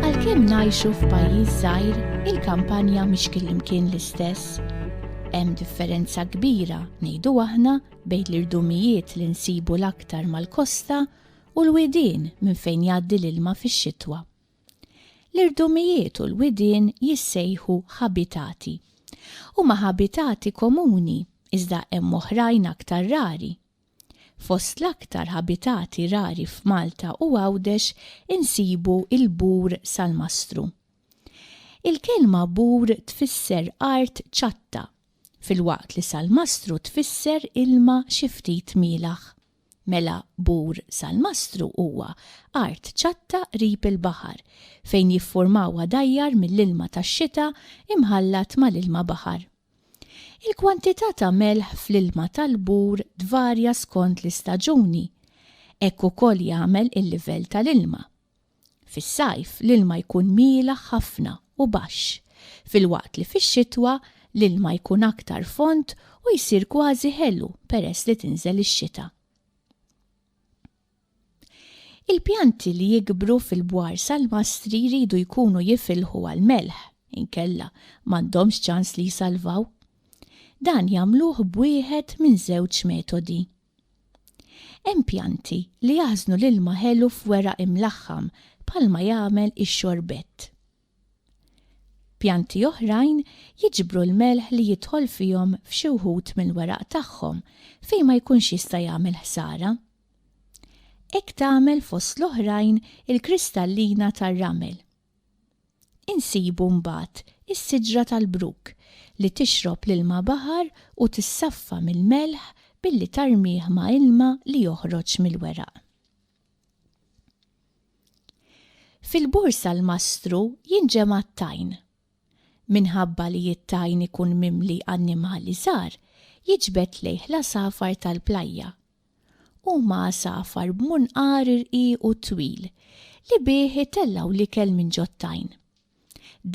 Għalkemm ngħixu f'pajjiż żgħir, il-kampanja mhix kien l-istess hemm differenza kbira ngħidu aħna bejn l-irdumijiet li nsibu l-aktar mal-kosta u l-widien minn fejn jgħaddi l-ilma fix-xitwa. L-irdumijiet u l-widien jissejħu ħabitati. Huma ħabitati komuni, iżda hemm oħrajn aktar rari. Fost l-aktar ħabitati rari f'Malta u Għawdex insibu l-bur salmastru. Il-kelma bur tfisser art ċatta, filwaqt li salmastru tfisser ilma xi ftit mielaħ. Mela Bur Salmastru huwa art ċatta qrib il-baħar fejn jiffurmaw għadajjar mill-ilma tax-xita imħallat mal-ilma baħar. Il-kwantità ta' melħ fl-ilma tal-Bur tvarja skont l-istaġuni. Hekk ukoll jagħmel il-livell tal-ilma. Fis-sajf l-ilma jkun mielaħ ħafna u baxx, filwaqt li fix-xitwa l-ilma jkun aktar fond u jsir kważi ħelu peress li tinżel ix-xita. Il-pjanti li jikbru fil-bwar salmastri jridu jkunu jifilħu għall-melħ, inkella m'għandhomx ċans li jsalvaw. Dan jagħmluh b'wieħed minn żewġ metodi. Hemm pjanti li jaħżnu l-ilma ħelu f'weraq imlaħħam bħalma jagħmel ix-xorbett. Pjanti oħrajn jiġbru l-melħ li jidħol fihom f'xi wħud mill-weraq tagħhom fejn ma jkunx jista' jagħmel ħsara. Hekk tagħmel fost l-oħrajn il-kristallina tar-ramel. Insibu mbagħad is-siġra tal-bruk li tixrob l-ilma baħar u tissaffa mill-melħ billi tarmih ma' ilma li joħroġ mill-weraq. Fil-bursa l-mastru jinġema' t-tajn. Minħabba li t-tajn ikun mimli annimali żgħar, jiġbed lejh l-għasafar tal-plajja Huma għasafar b'munqar irqiq u twil li bih itellgħu l-ikel minn ġot-tajn.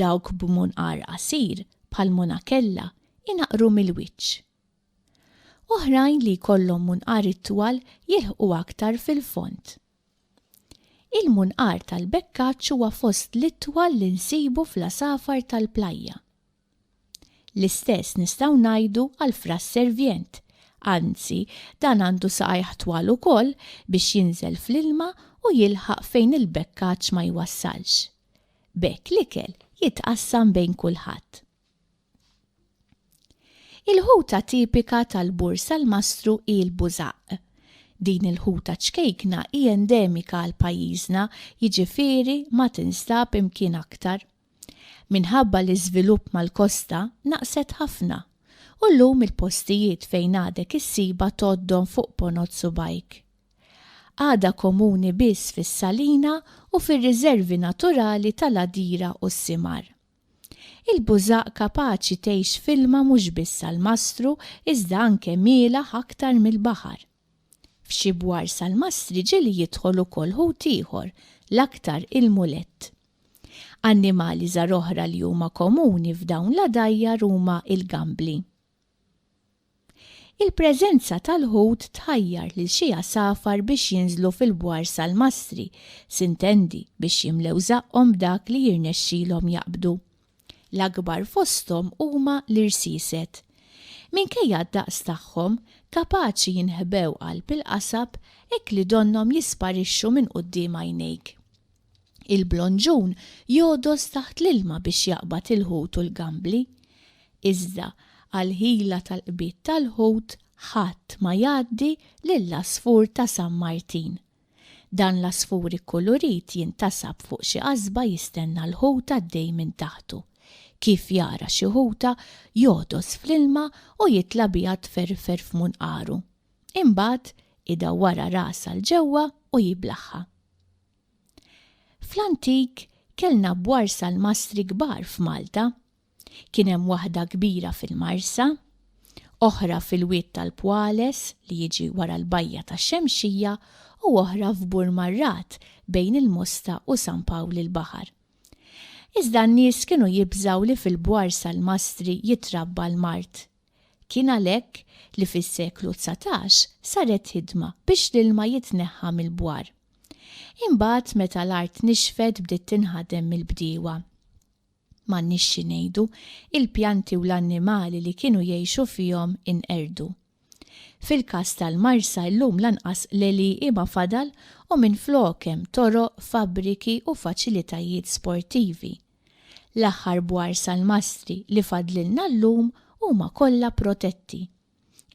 Dawk b'munqar qasir, bħal monakella, inaqqru mill-wiċċ. Oħrajn li jkollhom munqar itwal jilħqu aktar fil-fond. Il-munqar tal-bekkaċċ huwa fost l-itwal li nsibu fl-għasafar tal-plajja. L-istess nistgħu ngħidu għall-fraż servient. Anzi, dan għandu saqajh twal ukoll biex jinżel fl-ilma u jilħaq fejn il-bekkaġġ ma jwassalx. B'hekk l-ikel jitqassam bejn kulħadd. Il-ħuta tipika tal-Bur Salmastru hi l-bużaqq. Din il-ħuta ċkejkna hi endemika għal pajjiżna, jiġifieri ma tinstab imkien aktar. Minħabba l-iżvilupp mal-kosta naqset ħafna u llum il-postijiet fejn għadek issibha tgħoddhom fuq ponot subgħajk. Għadha komuni biss fis-salina u fir-riżervi naturali tal-għadira u s-simar. Il-bużaq kapaċi tgħix f'ilma mhux biss għall-mastru iżda anke mielaħ aktar mill-baħar. F'xi bwar salmastri ġieli jidħol ukoll ħut ieħor, l-aktar il-mulett. Annimali żgħar oħra li huma komuni f'dawn l-għadajjar huma l-gambli. Il-preżenza tal-ħut tħajjar lil xi għasafar biex jinżlu fil-bwar salmastri, s'intendi biex jimlew żaqqhom b'dak li jirnexxilhom jaqbdu. L-akbar fosthom huma l-irsieset. Minkejja d-daqs tagħhom, kapaċi jinħbew qalb il-qasab hekk li donnhom jisparixxu minn quddiem għajnejk. Il-blonġun jogħdos taħt l-ilma biex jaqbad il-ħut u l-gambli. Iżda, għall-ħila tal-qbid tal-ħut, ħadd ma jgħaddi lill-għasfur ta' San Martin. Dan l-għasfur ikkulurit jintasab fuq xi qasba jistenna l-ħut għaddej minn taħtu. Kif jara xi ħuta, jogħtos fl-ilma u jitla' biha tferrfer f'munqaru. Imbagħad, idawwarha rasha 'l ġewwa u jiblaħħa. Fl-antik, kellna bwarsa l-mastri kbar f'Malta. Kien hemm waħda kbira fil-Marsa, oħra fil-Wied tal-Pwales li jiġi wara l-Bajja tax-Xemxija u oħra f'Bur Marrat bejn il-Mosta u San Pawl il-Baħar. Iżda n-nies kienu jibżgħu li fil-bwar salmastri jitrabba l-mard. Kien għalhekk li fis-seklu dsatax saret ħidma biex l-ilma jitneħħa mill-bwar. Imbagħad meta l-art nixfet bdiet tinħadem mill-bdiewa. M'għandniex xi ngħidu, il-pjanti u l-annimali li kienu jgħixu fihom inqerdu. Fil-każ tal-Marsa illum lanqas l-għelieqi ma fadal u minflok hemm toroq, fabbriki u faċilitajiet sportivi. L-aħħar bwar salmastri li fadlilna llum huma kollha protetti.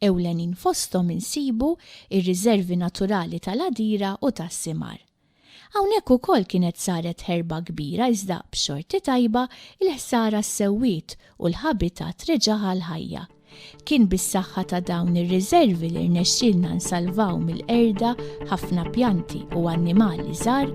Ewlenin fosthom insibu r-riżervi naturali tal-għadira u tas-simar. Hawnhekk ukoll kienet saret ħerba kbira iżda b'xorti tajba l-ħsara ssewwiet u l-ħabitat reġa' ħa l-ħajja. Kien bis-saħħa ta' dawn ir-riżervi li rnexxielna nsalvaw mill-qerda ħafna pjanti u annimali żgħar